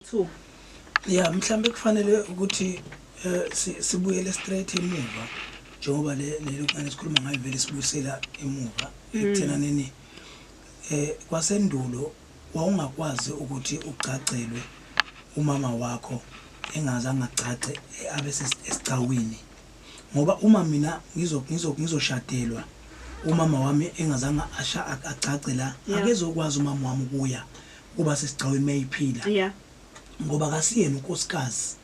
2 ya mhlambe kufanele ukuthi eh, sibuyele straight emuva njengoba le lelokuqala sikhuluma ngayo vele sibuyisela emuva hmm. ekuthena nini eh kwasendulo wawungakwazi ukuthi ugcagcelwe umama wakho engaze angagcagce eh, abe sesicawini ngoba uma mina ngizo ngizo ngizoshadelwa umama wami engazange asha agcagce la Yeah. akezokwazi umama wami ukuya ukuba sesigcaweni mayiphila yeah ngoba kasiyena unkosikazi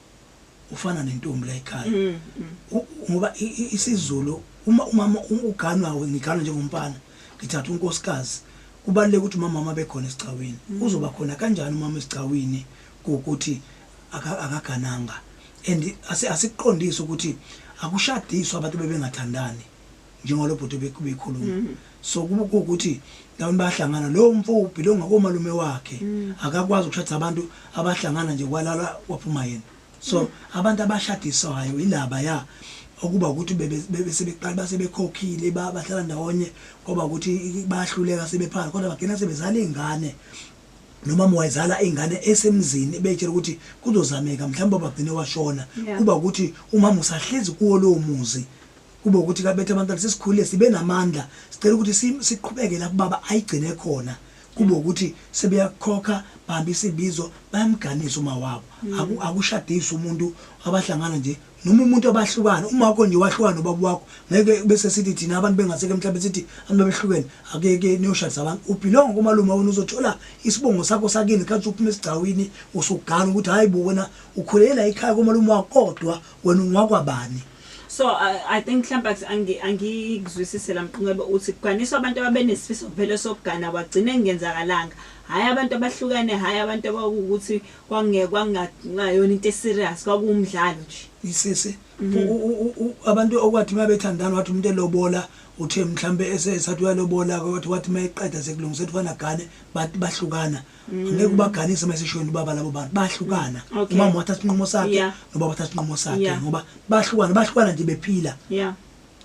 ufana nentombi la ekhaya Mm, mm. U- ngoba i- i- isizulu uma umama u- uganwawe ngiganwa njengomfana ngithatha unkosikazi kubaluleke ukuthi umama wami abekhona esigcawini uzoba khona kanjani umama esigcawini kokuthi akagananga and asikuqondise ukuthi akushadiswa abantu bebengathandani njengoba lo bhuti beyikhuluma mm. so kuba kuwukuthi ndawoni bayahlangana lowo mfo ubhilonga komalume wakhe mm. akakwazi ukushadisa abantu abahlangana nje kwalala waphuma yena so mm. abantu abashadiswayo ilaba ya okuba ukuthi besebeqala basebekhokhile bahlala ndawonye ngoba ukuthi bayahluleka sebephansi kodwa bagcina sebezala iy'ngane nomama wayizala ingane esemzini ebeyitshela ukuthi kuzozameka mhlawumbe bagcine washona yeah. kuba ukuthi umama usahlezi kuwo lowo muzi kube ukuthi kabethe abantwana sesikhulile sibe namandla sicela ukuthi siqhubeke la kubaba ayigcine khona kube ukuthi sebeyakhokha bambi isibizo bayamganisa uma wabo mm. akushadisa umuntu abahlangana nje noma umuntu abahlukane uma wakho nje wahlukana nobaba wakho ngeke bese sithi thina abantu bengaseke emhlabeni sithi abantu behlukene akeke niyoshadisa abantu ubhilonga kumalume wena uzothola isibongo sakho sakini khathi uphuma esigcawini usugana ukuthi hayi bo wena ukhulela ikhaya komalume wakho kodwa wena ungakwabani so uh, i think mhlawumbe angi angikuzwisise lamqinqebe uthi kuganiswa abantu ababenesifiso vele sokugana wagcina engenzakalanga hayi abantu abahlukene hayi abantu abawukuthi Kwangeke kwangayona into eserious kwakuwumdlalo nje. Isisi abantu okwathi uma bethandana wathi umuntu elobola uthe mhlambe esesathi uyalobola wathi wathi uma eqeda sekulungisa ukuthi wanagane bathi bahlukana ngeke ubaganise uma esishweni ubaba labo bantu bahlukana umama wathatha isinqumo sakhe nobaba wathatha isinqumo sakhe ngoba bahlukana bahlukana nje bephila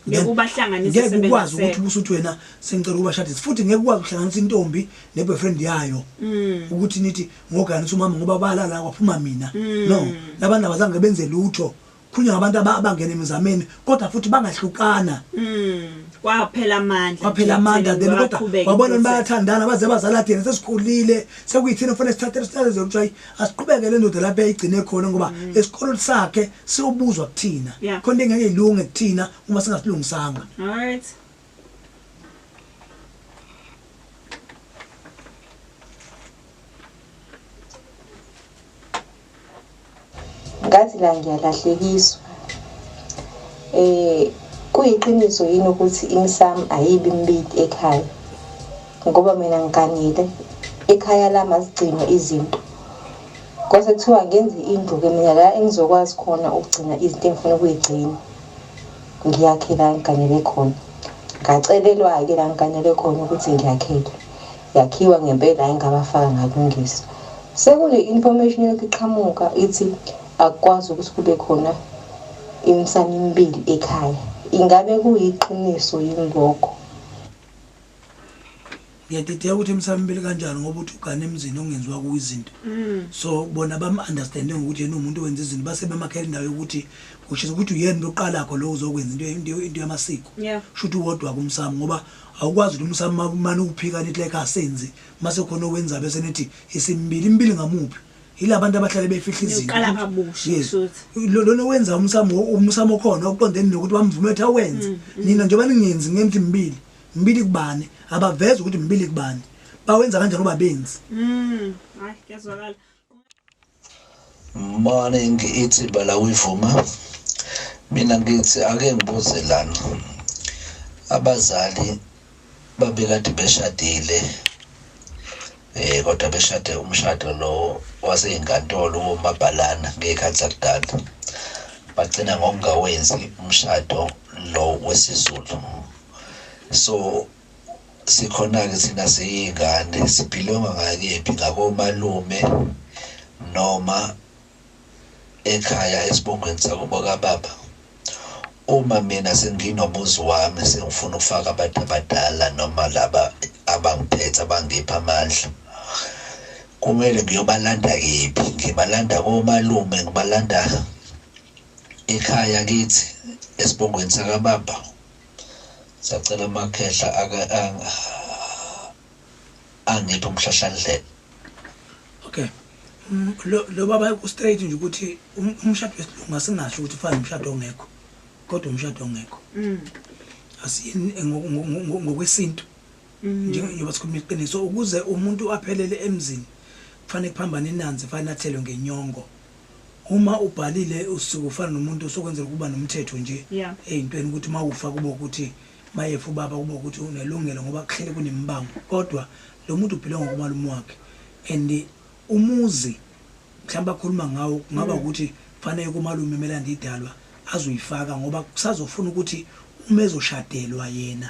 ngeke ubahlanganise ngeke ukwazi ukuthi ubusuthi wena sengicela ukubashadisa futhi ngeke ukwazi ukuhlanganisa intombi ne boyfriend yayo mm. ukuthi nithi ngogana ukuthi umama ngoba balala kwaphuma mina mm. no labantu abazange benze lutho khulunywa ngabantu abangena emizameni kodwa futhi bangahlukana mm. kwaphela amandla kwaphela amandla then kodwa wabona bayathandana baze bazala thina sesikhulile sekuyithina kufanele sithathe isithathe zokuthiwa asiqhubeke le ndoda lapho eyigcine khona ngoba mm. esikoleni sakhe siyobuzwa kuthina khona into engeke ilunge kuthina uma singasilungisanga alright ngathi la ngiyalahlekiswa eh kuyiqiniso yini ukuthi imsam ayibi mbidi ekhaya ngoba mina ngiganile ekhaya lami azigcinwe izinto kwase kuthiwa ngenze indlu ke mina la engizokwazi khona ukugcina izinto engifuna ukuyigcina ngiyakhe la ngiganele khona ngacelelwa-ke la ngiganele khona ukuthi ngiyakhele yakhiwa ngempela engabafaka ngakulungisa sekune-information yokhu iqhamuka ithi akukwazi ukuthi kube khona imsana emibili ekhaya ingabe kuyiqiniso yini lokho ngiyadideka ukuthi emsamibili kanjani ngoba uthi ugane emzini ongenziwa kuwo izinto mm. so bona bamu-understande ngokuthi yena umuntu owenza izinto base bemakhela indawo yokuthi kushiza ukuthi uyena into oqalakho lo uzokwenza into yamasiko sho ukuthi uwodwa kumsamo ngoba awukwazi ukuthi umsamo mane uwuphikane ithi like asenzi mase khona owenza bese nithi isimibili imibili ngamuphi yilabantu abahlale befihla izinto uqala kabusha yes lona wenza umsamo umsamo khona oqondene nokuthi wamvume ukuthi awenze mm, mm. nina njengoba ningenzi ngenzi imbili imbili kubani abaveza ukuthi imbili kubani bawenza kanjani uba benzi mm hayi kuyazwakala morning ithi bala uyivuma mina ngithi ake ngibuze lana abazali Babekade beshadile eh kodwa beshade umshado lo waseyinkantolo womabhalana ngekhathi zakudala bagcina ngokungawenzi umshado lo wesizulu so sikhona-ke thina siyingane sibhilonga ngakephi ngakomalume noma ekhaya esibongweni sakubo kababa uma mina senginomuzi wami sengifuna ukufaka abantu abadala noma laba abangiphethe abangipha amandla kumele ngiyobalanda kephi ngibalanda komalume ngibalanda ekhaya kithi esibongweni sakababa sacela amakhehla angiphi umhlahlandlela okay mm, lo lo baba ku straight nje ukuthi um- umshado wesilungu asingasho ukuthi fana umshado ongekho kodwa umshado ongekho Mm. asiyini ngo- ngo- ngo- ngo- ngokwesintu Mm. njengoba sikhuluma iqiniso ukuze umuntu aphelele emzini kufanele kuphambane inanzi fanele athelwe ngenyongo uma ubhalile usuke ufana nomuntu osokwenzela ukuba nomthetho nje Yeah. eyintweni ukuthi uma ufa kube ukuthi Mayefa ubaba kube ukuthi unelungelo ngoba kuhlele kunemibango kodwa lo muntu ubhilonga ngokumalume wakhe and umuzi mhlawumbe akhuluma ngawo kungaba mm. ukuthi kufanele kumalume emelanda idalwa azoyifaka ngoba kusazofuna ukuthi uma ezoshadelwa yena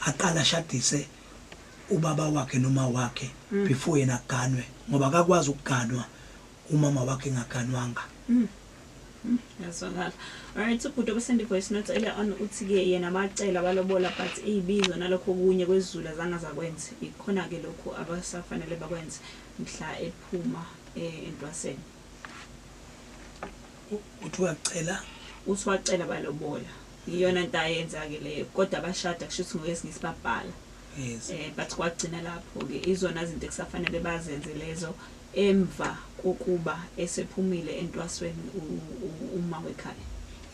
aqala ashadise ubaba wakhe noma wakhe mm. before yena aganwe ngoba akakwazi ukuganwa umama wakhe engaganwanga yazwakala alright ubhuti obesende voice note earlier on uthi-ke yena bacela balobola but iy'bizo nalokho okunye kwezulu azange zakwenze ikhona-ke lokhu abasafanele bakwenze mhla ephuma eh, entwaseni uthi wacela uthi wacela balobola iyona nto ayenza-ke leyo kodwa bashada kusho ukuthi ngokesinye isibabhala yes. eh, but kwagcina lapho-ke izona zinto ekusafanele bazenze lezo emva kokuba esephumile entwasweni uma wekhaya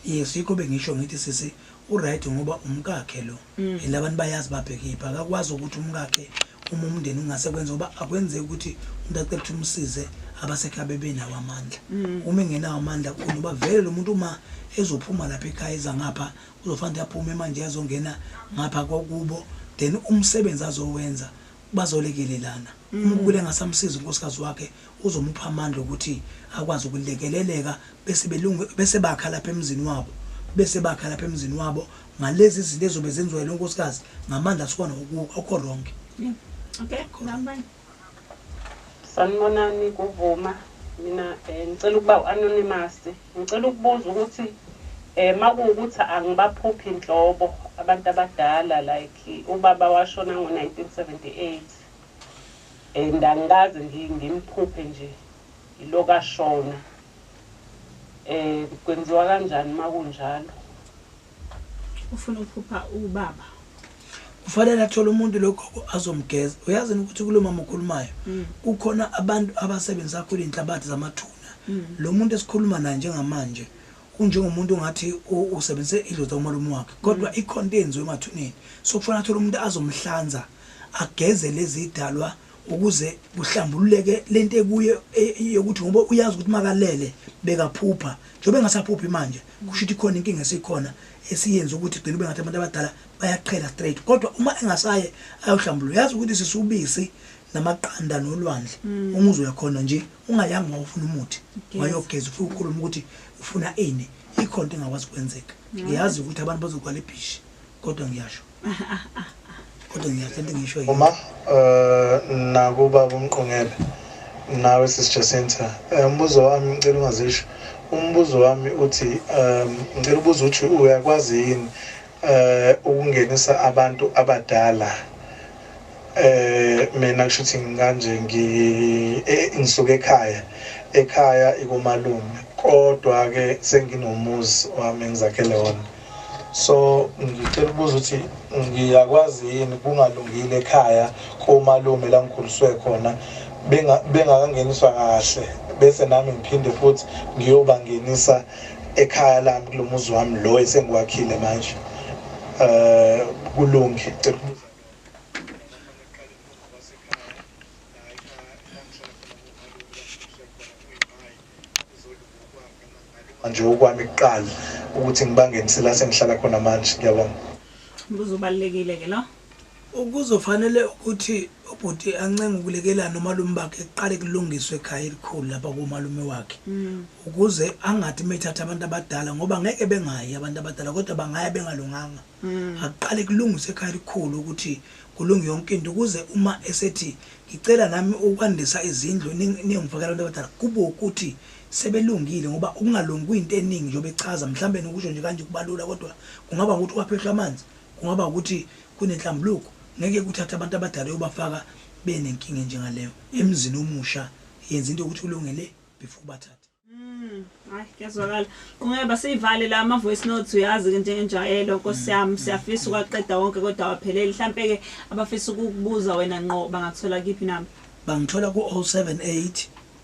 yes yikho bengisho ngithi sisi uright ngoba umkakhe lo mm. and abantu bayazi babhekiphi akakwazi ukuthi umkakhe uma umndeni ungase kwenza ngoba akwenzeki ukuthi umuntu acela ukuthi umsize abasekhaya bebenawo amandla mm. uma engenawo amandla kunoba vele lo muntu uma ezophuma lapha ekhaya eza ngapha uzofanele aphume manje azongena ngapha kokubo then umsebenzi azowenza bazolekelelana mm. umkule ngasamsiza unkosikazi wakhe uzomupha amandla ukuthi akwazi ukulekeleleka bese belunge bese bakha lapha emzini wabo bese bakha lapha emzini wabo ngalezi zinto ezobe zenziwa lo nkosikazi ngamandla sikhona okho wrong okay ngambani Sanibonani kuvuma mina eh, ngicela ukuba u-anonymous ngicela ukubuza ukuthi eh makuwukuthi angibaphuphi nhlobo abantu abadala like ubaba washona ngo-1978 and angikaze ngi- ngimphuphe nje yiloku ashona eh kwenziwa kanjani makunjalo Ufuna ukuphupha ubaba. Kufanele athole umuntu logogo azomgeza. Uyazi ukuthi kulo mama okhulumayo mm. kukhona abantu abasebenzisa kakhulu inhlabathi zamathuna. Mm. Lo muntu esikhuluma naye njengamanje unjengomuntu ngathi usebenzise idlozi lomalume wakhe kodwa mm. ikhonto yenziwe emathuneni so kufanele athole umuntu azomhlanza ageze lezi idalwa ukuze kuhlambululeke lento ekuye e, yokuthi ngoba uyazi ukuthi makalele bekaphupha Njengoba engasaphuphi manje kusho ukuthi khona inkinga esikhona esiyenza ukuthi gcina ube ngathi abantu abadala bayaqhela straight kodwa uma engasaye ayohlambulula yazi ukuthi sisubisi namaqanda nolwandle mm. uma uzoyakhona nje ungayanga uma ufuna umuthi wayogeza ufike ukhuluma ukuthi ufuna ini ikhona into engakwazi kwenzeka ngiyazi ukuthi abantu bazogwala ibhishi kodwa ngiyasho kodwa ngiyakhe into ngisho yini uma eh nakuba kumqongebe nawe sis Jacinta eh, umbuzo wami ngicela ungazisho umbuzo wami uthi um ngicela ubuza ukuthi uyakwazi yini eh ukungenisa abantu abadala eh mina kusho ukuthi ngikanje ngi eh, ngisuka ekhaya ekhaya ikumalume kodwa ke senginomuzi wami ngizakhele wona so ngicela ukubuza ukuthi ngiyakwazi yini kungalungile ekhaya komalume la ngikhuliswe khona bengakangeniswa kahle bese nami ngiphinde futhi ngiyobangenisa ekhaya lami kulo muzi wami lo esengiwakhile manje um kulunge cela ukubuza Manje okwami kuqala ukuthi ngibangenise la sengihlala khona manje ngiyabona. Umbuzo ubalekile ke lo. Ukuzofanele ukuthi ubhuti ancenge ukulekelana nomalume bakhe kuqale kulungiswe ekhaya elikhulu lapha kumalume wakhe mm. ukuze angathi methatha abantu abadala ngoba ngeke bengayi abantu abadala kodwa bangaya bengalunganga mm. akuqale kulungiswe ekhaya elikhulu ukuthi kulunge yonke into ukuze uma esethi ngicela nami ukwandisa izindlu ningifakela abantu abadala kube ukuthi sebelungile ngoba ukungalungi kuyinto eningi njengoba echaza mhlawumbe nokusho nje kanje kubalula kodwa kungaba ukuthi kwaphehlwa amanzi kungaba ukuthi kunenhlambuluko ngeke kuthathe abantu abadala yobafaka benenkinga enjengaleyo emzini omusha yenza into yokuthi ulungele before bathathe mm, hayi kuyazwakala kungeba siyivale la ama voice notes uyazi ke njengenjayelo nkosi mm, yami mm, siyafisa ukwaqeda wonke kodwa wapheleli mhlampe ke abafisa ukukubuza wena ngqo bangathola kiphi nami bangithola ku 078